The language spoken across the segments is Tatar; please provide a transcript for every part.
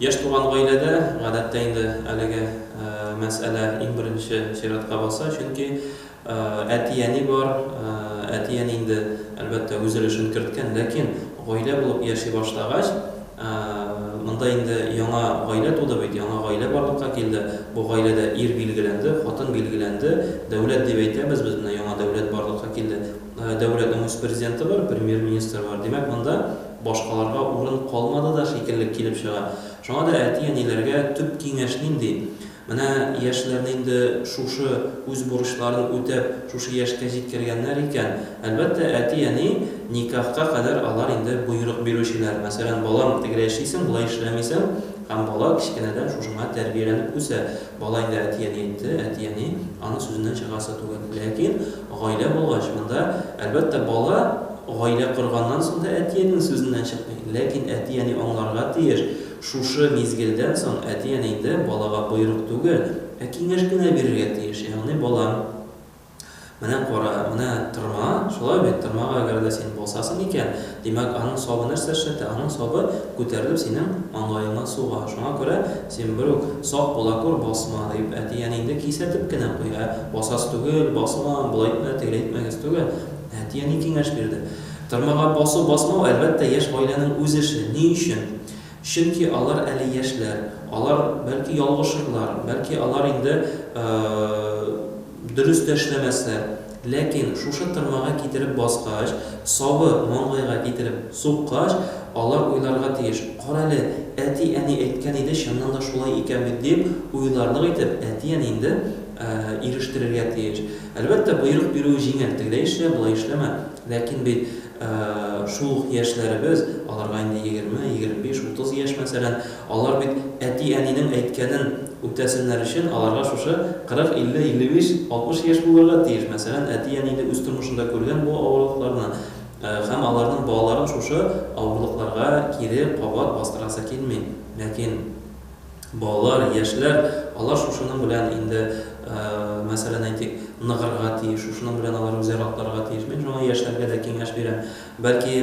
Яшь туган гаиләдә, гадәттә инде әлеге мәсьәлә иң беренче чиратка баса, чөнки әти-әни бар, әти-әни инде, әлбәттә, үз өлешен керткән, ләкин гаилә булып яши башлагач, монда инде яңа гаилә туды бит, яңа гаилә барлыкка килде, бу гаиләдә ир билгеләнде, хатын билгеләнде, дәүләт дип әйтәбез без, менә яңа дәүләт барлыкка килде, дәүләтнең үз президенты бар, премьер-министры бар, димәк, монда. Башкаларга урын калмады да шикелле килеп чыга. Шуңа да әти-әниләргә төп киңәш нинди? Менә яшьләрне инде шушы үз бурычларын үтәп, шушы яшькә җиткергәннәр икән, әлбәттә, әти-әни никахка кадәр алар инде боерык бирүчеләр. Мәсәлән, балам, тегеләй эшлисең, болай эшләмисең, һәм бала кечкенәдән шушыңа тәрбияләнеп үсә. Бала инде әти-әни әйтте, әти-әни аны сүзеннән чыгарасы түгел. Ләкин Гаилә булгач, монда, әлбәттә, бала гаилә корганнан соң да әти-әнинең сүзеннән чыкмый. Ләкин әти-әни аңларга тиеш, шушы мизгелдән соң әти-әни инде балага боерык түгел, ә киңәш кенә бирергә тиеш, ягъни, балам, менә кара, менә тырма, шулай бит, тырмага әгәр дә син басасың икән, Димәк, аның сабы нәрсә эшләтә? Аның сабы күтәрелеп синең маңгаеңа суга. Шуңа күрә син бер үк, Сак була күр, басма, дип, әти-әниеңде кисәтеп кенә куй. Ә басасы түгел, басма, болай итмә, тегеләй итмәгез түгел. Әти-әни киңәш бирде. Тырмага басу-басмау, әлбәттә, яшь гаиләнең үз эше. Ни өчен? Чөнки алар әле яшьләр, алар, бәлки, ялгышырлар, бәлки, алар инде дөрес тә эшләмәсләр, ләкин шушы тырмага китереп баскач, сабы маңгайга китереп суккач, алар уйларга тиеш, карале, әти-әни әйткән иде, чыннан да шулай икән бит, дип уйларлык итеп, әти-әниеңде ирештерергә тиеш. Әлбәттә, боерык бирүе җиңел, тегеләй эшлә, болай эшләмә, ләкин бит Шул ук яшьләребез, аларга инде егерме, егерме биш, утыз яшь, мәсәлән, алар бит әти-әнинең әйткәнен үтәсеннәр өчен, аларга шушы кырык, илле, илле биш, алтмыш яшь булырга тиеш. Мәсәлән, әти-әни дә үз тормышында күргән бу авырлыкларны һәм аларның балаларын шушы авырлыкларга кире кабат бастырасы килми. Ләкин. Балалар, яшьләр, алар шушының белән инде, мәсәлән, әйтик, ныгырга тиеш, шушының белән алар үзәр атларга тиеш. Мин шуңа яшьләргә дә киңәш бирәм. Бәлки,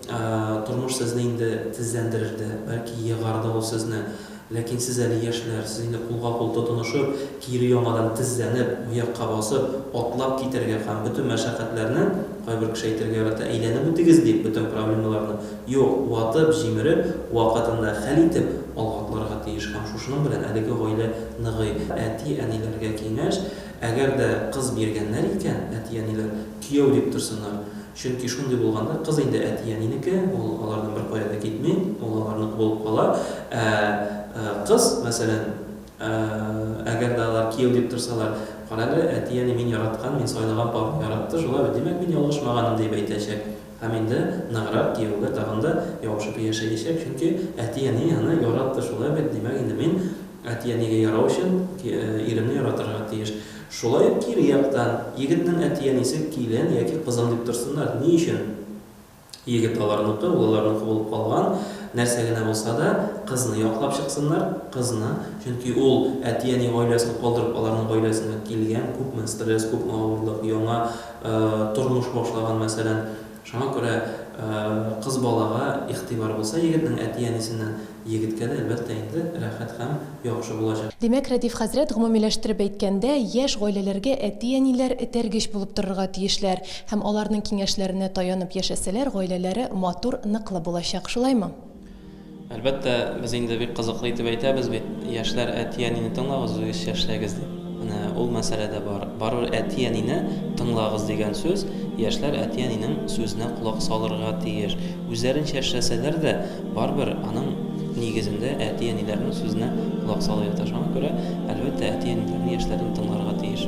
тормыш сезне инде тезләндерер дә, бәлки, егар да ул сезне. Ләкин сез әле яшьләр, сез инде кулга-кул тотынышып, кире яңадан тезләнеп, аякка басып, атлап китәргә һәм бөтен мәшәкатьләрне, кайбер кеше әйтергә ярата, әйләнеп үтегез, дип, бөтен проблемаларны Юк, ватып, җимереп, вакытында хәл итеп, алга атларга тиеш һәм шушының белән әлеге гаилә ныгый. Әти-әниләргә киңәш, әгәр дә кыз биргәннәр икән, әти-әниләр кияү дип торсыннар. Чөнки шундый булганда кыз инде әти-әнинеке, ул алардан беркая да китми, ул аларныкы булып кала. Ә кыз, мәсәлән, әгәр дә алар кияү дип торсалар, Карале, әти-әни мин яраткан, мин сайлаган парны яратты, шулай бит, димәк, мин ялгышмаганмын, дип әйтәчәк. Һәм инде ныграк кияүгә тагын да ябышып яшәячәк, чөнки әти-әни аны яратты, шулай бит? Димәк инде мин әти-әнигә ярау өчен иремне яратырга тиеш. Шулай ук кире яктан, егетнең әти-әнисе килен яки кызым дип торсыннар, ни өчен? Егет аларныкы, ул аларныкы булып калган, нәрсә генә булса да, кызны яклап чыксыннар, кызны, чөнки ул әти-әни гаиләсен калдырып аларның гаиләсенә килгән, күпме стресс, күпме авырлык, яңа, тормыш башлаган, мәсәлән. Шуңа күрә кыз балага игътибар булса егетнең әти-әнисеннән, егеткә дә, әлбәттә инде, рәхәт һәм яхшы булачак. Димәк, Рәдиф хәзрәт, гомумиләштереп әйткәндә, яшь гаиләләргә әти-әниләр этәргеч булып торырга тиешләр һәм аларның киңәшләренә таянып яшәсәләр, гаиләләре матур, ныклы булачак. Шулаймы? Әлбәттә, без инде бик кызыклы итеп әйтәбез бит, яшьләр, әти-әнине тыңлагыз, үзегезчә эшләгез дип. Менә ул мәсьәлә дә бар. Барыбер әти-әнине тыңлагыз дигән сүз, яшьләр әти-әнинең сүзенә колак салырга тиеш. Үзләренчә эшләсәләр дә, барыбер аның нигезендә әти-әниләрнең сүзенә колак салу ята. Шуңа күрә, әлбәттә, әти-әниләрне яшьләрнең тыңларга тиеш.